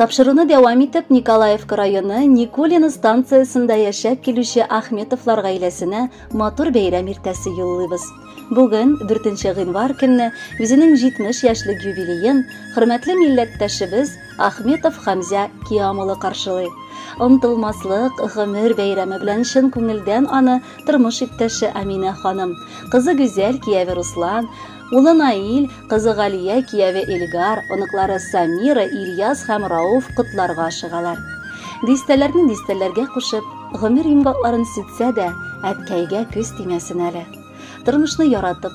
Тапшыруны дәвам итеп Николаевка районы Никулино станциясендә яшәп килүче Ахметовлар гаиләсенә матур бәйрәм иртәсе юллыйбыз. Бүген 4 гыйнвар көнне үзенең 70 яшьлек юбилеен хөрмәтле милләттәшебез Ахметов Хамзя Киам улы каршылый. Онтылмаслык гомер бәйрәме белән чын күңелдән аны тормыш иптәше Амина ханым, кызы Гүзәл, кияве Руслан, улы Наил, кызы Галия, кияве Эльгар, оныклары Самира, Ильяс һәм Рауф котларга ашыгалар. Дистәләрне дистәләргә кушып, гомер йомгакларын сүтсә дә, әткәйгә күз тимәсен әле. Тормышны яратып,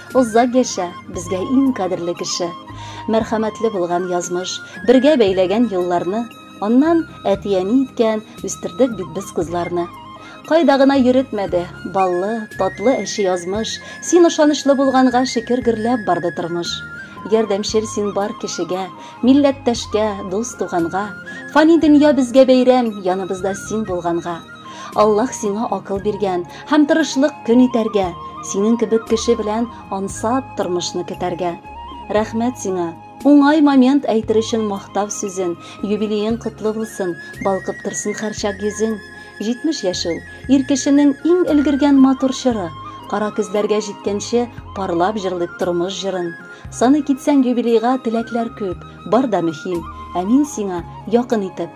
Озак яшә, безгә иң кадерле кеше. Мәрхәмәтле булган язмыш, бергә бәйләгән елларны, аннан әти-әни иткән, үстердек бит без кызларны. Кайда гына йөретмәде, баллы, татлы әче язмыш, син ышанычлы булганга шөкер гөрләп барды тормыш. Ярдәмчел син бар кешегә, милләттәшкә, дус-туганга, фани дөнья безгә бәйрәм, яныбызда син булганга. Аллаһ сиңа акыл биргән һәм тырышлык көн итәргә, синең кебек кеше белән ансат тормышны көтәргә. Рәхмәт сиңа. Уңай момент әйтер өчен мактав сүзен, юбилеең котлы булсын, балкып торсын хәрчак йөзең. 70 яшь ул, ир кешенең иң өлгергән матур чоры. Кара көзләргә җиткәнче парлап җырлыйк тормыш җырын. Саный китсәң юбилейга теләкләр күп, бар да мөһим. Ә мин сиңа якын итеп,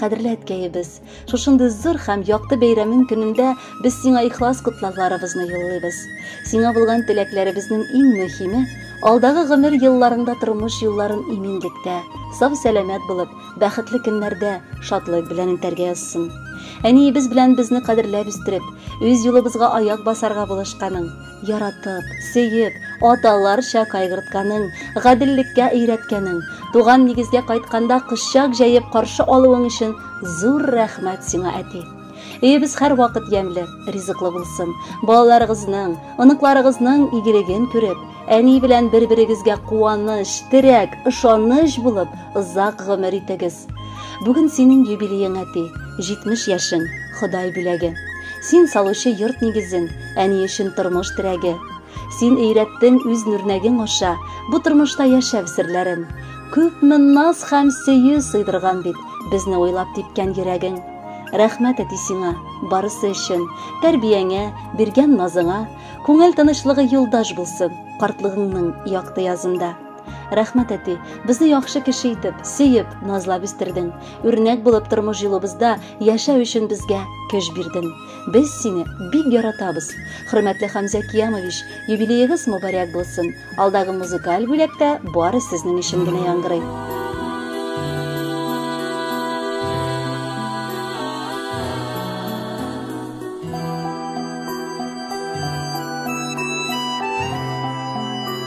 кадерле әткәебез шушындый зур һәм якты бәйрәмең көнендә без сиңа ихлас котлауларыбызны юллыйбыз сиңа булган теләкләребезнең иң мөһиме алдагы гомер елларыңда тормыш юлларын иминлектә сау сәламәт булып бәхетле көннәрдә шатлык белән үтәргә язсын әниебез белән безне кадерләп үстереп үз юлыбызга аяк басарга булышканың Яратып, сөеп, аталарча кайгыртканың, гаделлеккә өйрәткәнең, туган нигезгә кайтканда кочак җәеп каршы алуың өчен зур рәхмәт сиңа, әти. Өебез һәрвакыт ямьле, ризыклы булсын. Балаларыгызның, оныкларыгызның игелеген күреп, әни белән бер-берегезгә куаныч, терәк, ышаныч булып, озак гомер итегез. Бүген синең юбилеең, әти, 70 яшең, Ходай бүләге. Син салучы йорт нигезен, Әни өчен тормыш терәге. Син өйрәттең үз нөрнәгең аша бу тормышта яшәү серләрен. Күпме наз һәм сөю сыйдырган бит безне уйлап типкән йөрәгең. Рәхмәт әти сиңа, барысы өчен, тәрбияңә, биргән назыңа, күңел тынычлыгы юлдаш булсын, картлыгыңның якты язында. Рәхмәт әти, безне яхшы кеше итеп, сөеп, назлап үстердең. Үрнәк булып тормыш юлыбызда яшәү өчен безгә көч бирдең. Без сине бик яратабыз. Хөрмәтле Хамза Киямович, юбилеегыз мөбарәк булсын. Алдагы музыкаль бүләктә бары сезнең өчен генә яңгырый.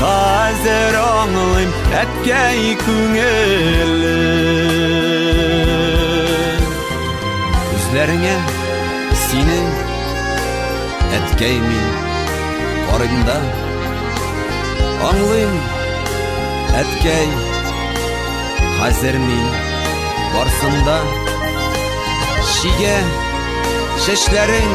Хәзер аңлыйм әткәй күңеле Үзләреңә сине әткәй мин карыйм да Аңлыйм әткәй хәзер мин барсында Чигә чәчләрең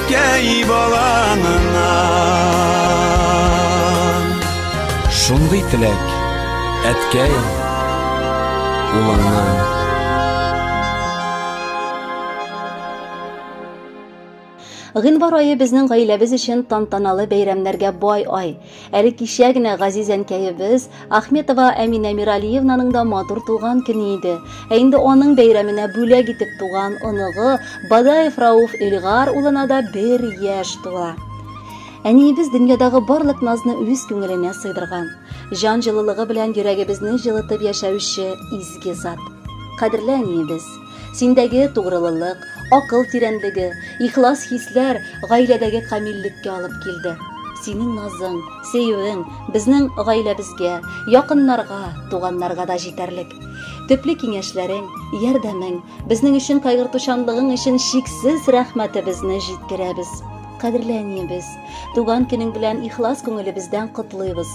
Әткәй балаңнан Шундый теләк Әткәй улыңнан Гыйнвар айы безнең гаиләбез өчен тантаналы бәйрәмнәргә бай ай. Әле кичә генә газиз әнкәебез Ахметова Әминә Миралиевнаның да матур туган көне иде. Ә инде аның бәйрәменә бүләк итеп туган оныгы Бадаев Рауф Илгар улына да бер яшь тула. Әниебез дөньядагы барлык назны үз күңеленә сыйдырган, җан җылылыгы белән йөрәгебезне җылытып яшәүче изге зат. Кадерле әниебез! Синдәге тугрылылык, акыл тирәнлеге, ихлас хисләр гаиләдәге камиллеккә алып килде. Синең назың, сөюең безнең гаиләбезгә, якыннарга, туганнарга да җитәрлек. Төпле киңәшләрең, ярдәмең, безнең өчен кайгыртучанлыгың өчен чиксез рәхмәтебезне җиткерәбез. Кадерле әниебез! Туган көнең белән ихлас күңелебездән котлыйбыз.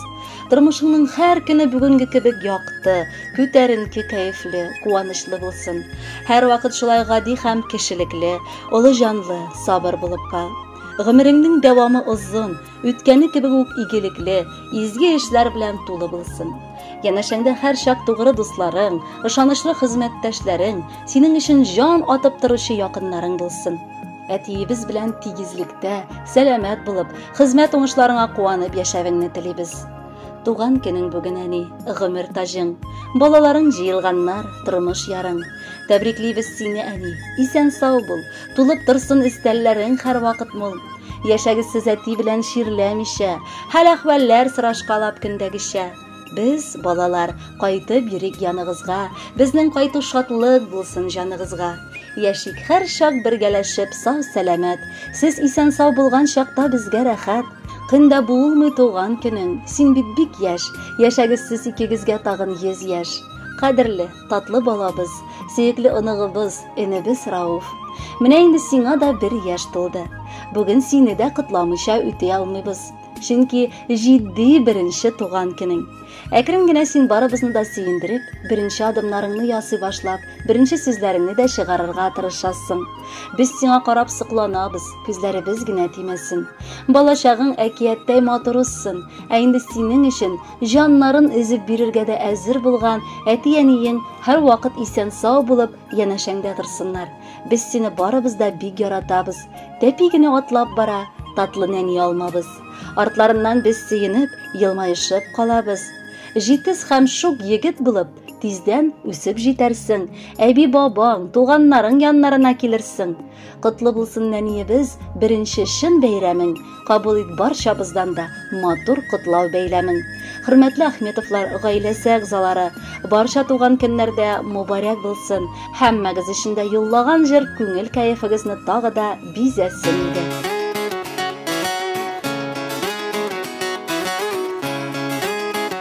Тормышыңның һәр көне бүгенге кебек якты, күтәренке, кәефле, куанычлы булсын. Һәр вакыт шулай гади һәм кешелекле, олы җанлы, сабыр булып кал. Гомереңнең дәвамы озын, үткәне кебек үк игелекле, изге эшләр белән тулы булсын. Янәшәңдә һәрчак тугры дусларың, ышанычлы хезмәттәшләрең, синең өчен җан атып торучы якыннарың булсын. Әтиебез белән тигезлектә, сәламәт булып, хезмәт уңышларыңа куанып яшәвеңне телибез. Туган көнең бүген әни, гомер таҗың. Балаларың җыелганнар, тормыш ярың. Тәбриклибез сине, әни. Исән сау бул, тулып торсын өстәлләрең һәрвакыт мул. Яшәгез сез әти белән чирләмичә, хәл-әхвәлләр сорашкалап көндәгечә. Без, балалар, кайтып йөрик яныгызга, Безнең кайту шатлык булсын җаныгызга. Яшик һәр чак бергәләшеп, сау сәламәт, Сез исән сау булган чакта безгә рәхәт. Көнда булмый туган көнең, син бит бик яшь, Яшәгез сез икегезгә тагын йөз яшь. Кадерле, татлы балабыз, сөекле оныгыбыз, энебез Рауф. Менә инде сиңа да бер яшь тулды. Бүген сине дә котламыйча үти алмыйбыз. Чөнки җитди беренче туган көнең. Әкрен генә син барыбызны да сөендереп, беренче адымнарыңны ясый башлап, беренче сүзләреңне дә чыгарырга тырышасың. Без сиңа карап сокланабыз, күзләребез генә тимәсен. Балачагың әкияттәй матур узсын, ә инде синең өчен җаннарын өзеп бирергә дә әзер булган әти-әниең һәрвакыт исән-сау булып, янәшәңдә торсыннар. Без сине барыбыз да бик яратабыз. Тәпи генә атлап бара, татлы нәни алмабыз. Артларыннан без сөенеп, елмаешып калабыз. Җитез һәм шук егет булып, тиздән үсеп җитәрсең. Әби-бабаң, туганнарың яннарына килерсең. Котлы булсын нәниебез беренче чын бәйрәмен, кабул ит барчабыздан да матур котлау бәйләмен. Хөрмәтле Ахметовлар гаиләсе әгъзалары, барча туган көннәрдә мубарәк булсын. Һәммәгез өчен дә юллаган җыр күңел кәефегезне тагы да бизәсен иде.